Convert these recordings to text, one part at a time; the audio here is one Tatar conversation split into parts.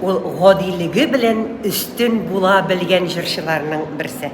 Ул гадилеге белән өстен була белгән җырчыларның берсе.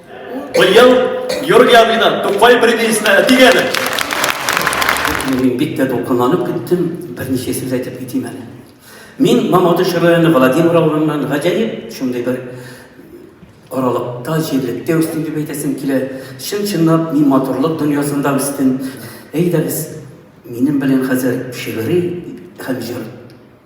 Быел Георгий абыйдан Тукай премиясенә әтигә әле. Мин бик тә дулкынланып киттем, берничә сүз әйтеп китим әле. Мин Мамадыш районы Владимир авылыннан гаҗәеп шундый бер аралыкта, җирлектә үстем дип әйтәсем килә. Чын-чынлап мин матурлык дөньясында үстем. Әйдәгез, минем белән хәзер шигъри һәм җыр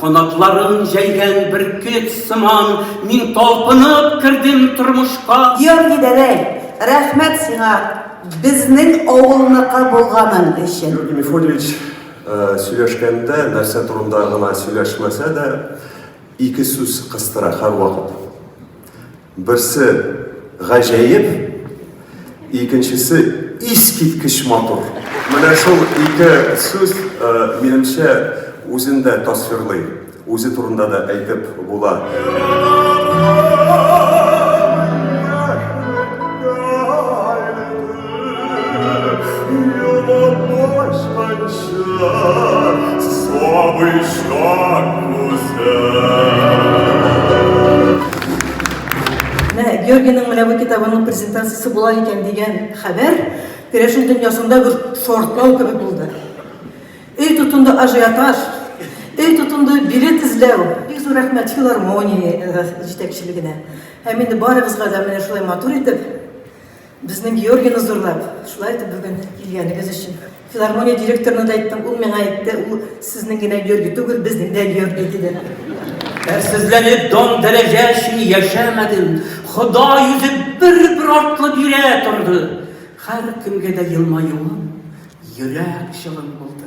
Канатларын җәйгән бөркет сыман, мин талпынып кердем тормышка. Георгий Дәдәй, рәхмәт сиңа безнең авылныкы булганың өчен. Георгий Мефодьевич э, сөйләшкәндә, нәрсә турында гына сөйләшмәсә дә, ике сүз кыстыра һәрвакыт. Берсе гаҗәеп, икенчесе искиткеч матур. Менә шул ике сүз, э, минемчә, үзен дә тасвирлый, үзе турында да әйтеп була. Георгиның менә бу китабының презентациясе була икән дигән хәбәр керәшен дөньясында бер шартлау кебек булды. Өй тотынды ажиотаж, өй тотынды билет эзләү. Бик зур рәхмәт филармония җитәкчелегенә. Һәм инде барыгызга да менә шулай матур итеп Безнең Георгийны зурлап, шулай итеп бүген килгәнегез өчен. Филармония директорына да әйттем, ул миңа әйтте, ул сезнең генә Георгий түгел, безнең дә Георгий диде. Әрсезләнеп дан дәрәҗә өчен яшәмәдем. Хода йөзе бер-бер артлы бирә торды. Һәр кемгә дә елмаюым, йөрәк чылым булды.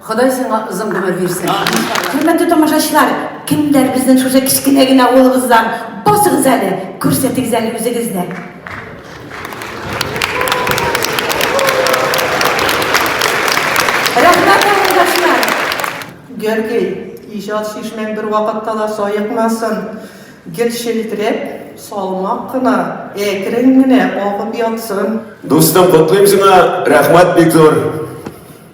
Ходай сиңа озын гомер бирсен. Хөрмәтле тамашачылар, кемнәр безнең шушы кечкенә генә авылыбыздан? Басыгыз әле, күрсәтегез әле үзегезне. Рәхмәт, авылдашлар! Гәргәй, иҗат чишмәң бервакытта да саекмасын! Гел челтерәп, салмак кына, әкрен генә агып ятсын! Дустым, котлыйм сиңа, рәхмәт бик зур!